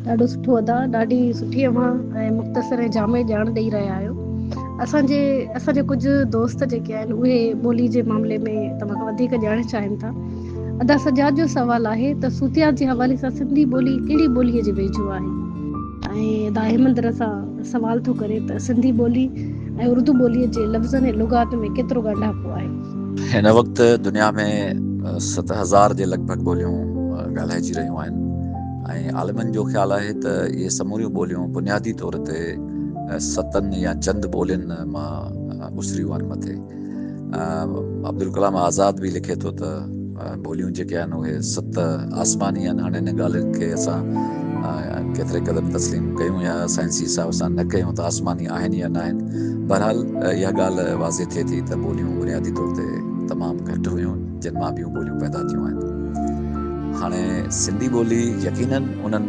ڏاڍو سٺو ادا ڏاڍي سٺي اوھان ۽ مختصر ۽ جامع ڄاڻ ڏئي رھيا آھيو اسان جي اسان جي ڪجھ دوست جيڪي آھن اھي ٻولي جي معاملي ۾ توھان کان وڌيڪ ڄاڻڻ چاھين ٿا ادا سجاد جو سوال آھي ته صوتيات جي حوالي سان سنڌي ٻولي ڪھڙي ٻولي جي ويجھو آھي ۽ ادا احمدر سان سوال ٿو ڪري ته سنڌي ٻولي ۽ اردو ٻولي جي لفظن ۽ لغات ۾ ڪيترو ڳانڍاپو آھي ھن وقت دنيا ۾ ست ھزار جي لڳ ڀڳ ٻوليون ڳالھائجي رھيون آھن ۽ عالمن جو خيال آهي ته اهي سموريون ٻوليون بنيادي طور تي ستن يا چند ٻولين مان اسريون آهن. مٿي عبدالڪلام آزاد به لکي ٿو ته ٻوليون جيڪي آهن اهي ست آسماني آهن. هاڻي ان ڳالهه کي اسان ڪيتري قدر تسليم ڪيون يا سائنسي حساب سان نه ڪيون ته آسماني آهن يا نه آهن. بهرحال اها ڳالهه واضح ٿئي ٿي ته ٻوليون بنيادي طور تي تمام گهٽ هيون. جن مان ٻيون ٻوليون پيدا ٿيون آهن. هاڻي سنڌي ٻولي يقينن انهن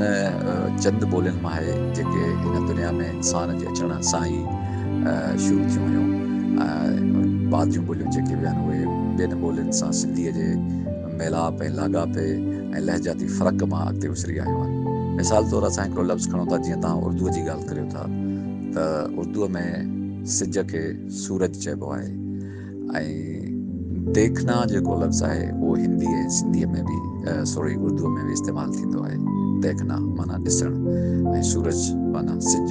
چند ٻولين مان آهي جيڪي هن دنيا ۾ انسان جي اچڻ سان ئي شروع ٿيون هيون ۽ بعد جون ٻوليون جيڪي به آهن اهي ٻين ٻولين سان سنڌيء جي ميلاپ ۽ لاڳاپي ۽ لهجاتي فرق مان اڳتي اسري آيون آهن. مثال طور اسان هڪڙو لفظ کڻون ٿا جيئن توهان اردوء جي ڳالهه ڪريو ٿا ته اردوء ۾ سج کي سورج چئبو آهي. ۽ ديکنا جيڪو لفظ آهي اهو هندي ۽ سنڌيء ۾ به سوري اردوء ۾ به استعمال ٿيندو آهي. ديکنا معنيٰ ڏسڻ ۽ سورج معنيٰ سج.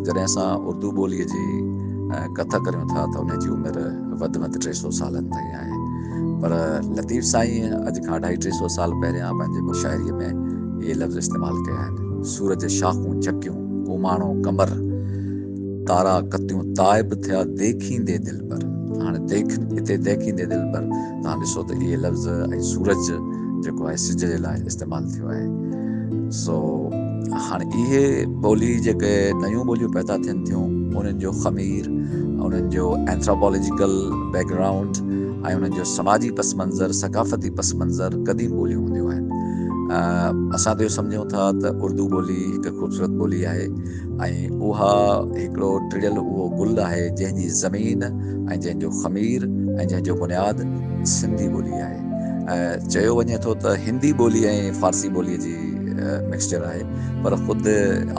جڏهن اسان اردو ٻوليء جي ڪٿ ڪريون ٿا ته ان جي عمر وڌ ۾ وڌ ٽي سؤ سالن تائين آهي. پر لطيف سائينء اڄ کان اڍائي ٽي سؤ سال پهريان پنهنجي مشاعري ۾ اهي لفظ استعمال ڪيا آهن، سورج، شاخون، چڪيون، ڪوماڻو، قمر. تارا ڪتيون تائب ٿيا ديکيندي دلبر. هاڻي ديکن اتي ديکيندي دلبر توهان ڏسو ته اهي لفظ ۽ سورج جيڪو آهي سج جي لاء استعمال ٿيو آهي سو هاڻي اهي ٻولي جيڪي نيون ٻوليون پيدا ٿين ٿيون انهن جو خمير انهن جو اينٿراپولوجيڪل بيڪ گرائونڊ ۽ انهن جو سماجي پس منظر ثقافتي پس منظر قديم ٻوليون هونديون آهن اسان ته اهو سمجهون ٿا ته اردو ٻولي هڪ خوبصورت ٻولي آهي ۽ اها هڪڙو ٽڙيل اهو گل آهي جنهن جي زمين ۽ جنهن جو خمير ۽ جنهن جو بنياد سنڌي ٻولي آهي. چيو وڃي ٿو ته هندي ٻولي ۽ فارسي ٻولي جي مڪسچر آهي پر خود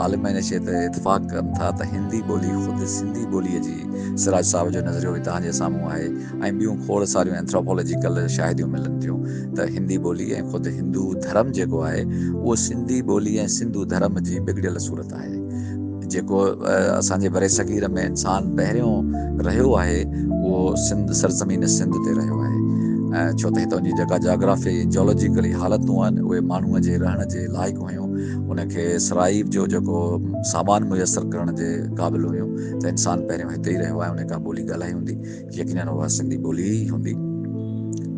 عالم ۽ نشيت اتفاق ڪن ٿا ته هندي ٻولي خود سنڌي ٻولي جي سراج صاحب جو نظريو به توهان جي سامهون آهي. ۽ ٻيون کوڙ ساريون اينٿراپالاجيڪل شاهديون ملن ٿيون ته هندي ٻولي ۽ خود هندو ڌرم جيڪو آهي اهو سنڌي ٻولي ۽ سنڌو ڌرم جي بگڙيل صورت آهي. جيڪو اسان جي برصغير ۾ انسان پهريون رهيو آهي اهو سنڌ سرزمين سنڌ تي رهيو آهي ڇو ته هتان جي جيڪا جاگرافي جيولوجيڪلي حالتون آهن اهي ماڻهوء جي رهڻ جي لائق هيون ان کي سرائيب جو جيڪو سامان ميسر ڪرڻ جي قابل هيون ته انسان پهريون هتي ئي رهيو آهي ان کان ٻولي ڳالهائي هوندي. يقينن اها سنڌي ٻولي ئي هوندي.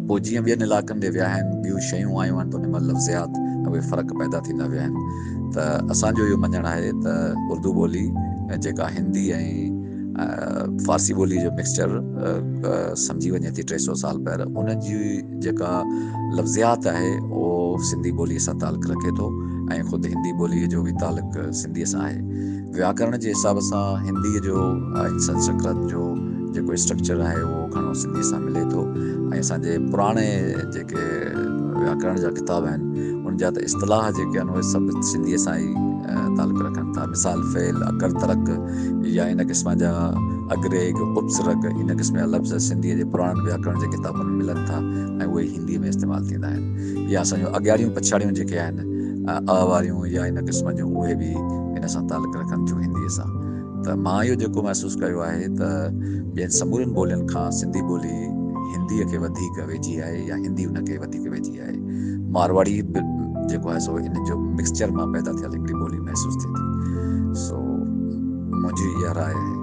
پوء جيئن ٻين علائقن جي وياهين ٻيون شيون آيون آهن ته انهن ۾ لفظيات ۾ اهي فرق پيدا ٿيندا ويا آهن ته اسان جو اهو مڃڻ آهي ته اردو ٻولي جيڪا هندي ۽ فارسي ٻولي جو مڪسچر سمجهي وڃي ٿي ٽي سؤ سال پهر ان جي جيڪا لفظيات آهي اهو سنڌي ٻولي سان تعلق رکي ٿو ۽ خود هندي ٻولي جو به تعلق سنڌي سان آهي. وياڪرڻ جي حساب سان هنديء جو ۽ سنسڪرت جو جيڪو اسٽرڪچر آهي اهو گهڻو سنڌيء سان ملي ٿو ۽ اسان جي پراڻي جيڪي وياڪرڻ جا ڪتاب آهن ان جا ته اصطلاح جيڪي آهن اهي سڀ سنڌيء سان ئي تعلق رکن ٿا مثال فعل اڪر ترڪ يا ان قسم جا اگريگ اپسرگ ان قسم جا لفظ سنڌيء جي پراڻن وياڪرڻ جي ڪتابن ۾ ملن ٿا ۽ اهي هنديء ۾ استعمال ٿيندا آهن يا اسان جون اڳياڙيون پڇاڙيون جيڪي آهن ا واريون يا ان قسم جون اهي به ان سان تعلق رکن ٿيون هنديء سان ته مان اهو جيڪو محسوس ڪيو آهي ته ٻين سمورين ٻولين کان سنڌي ٻولي هنديء کي وڌيڪ ويجهي آهي يا هندي ان کي وڌيڪ ويجهي آهي. مارواڙي به جيڪو آهي سو ان جو مڪسچر مان پيدا ٿيل هڪڙي ٻولي محسوس ٿئي ٿي سو منهنجي اها راء آهي.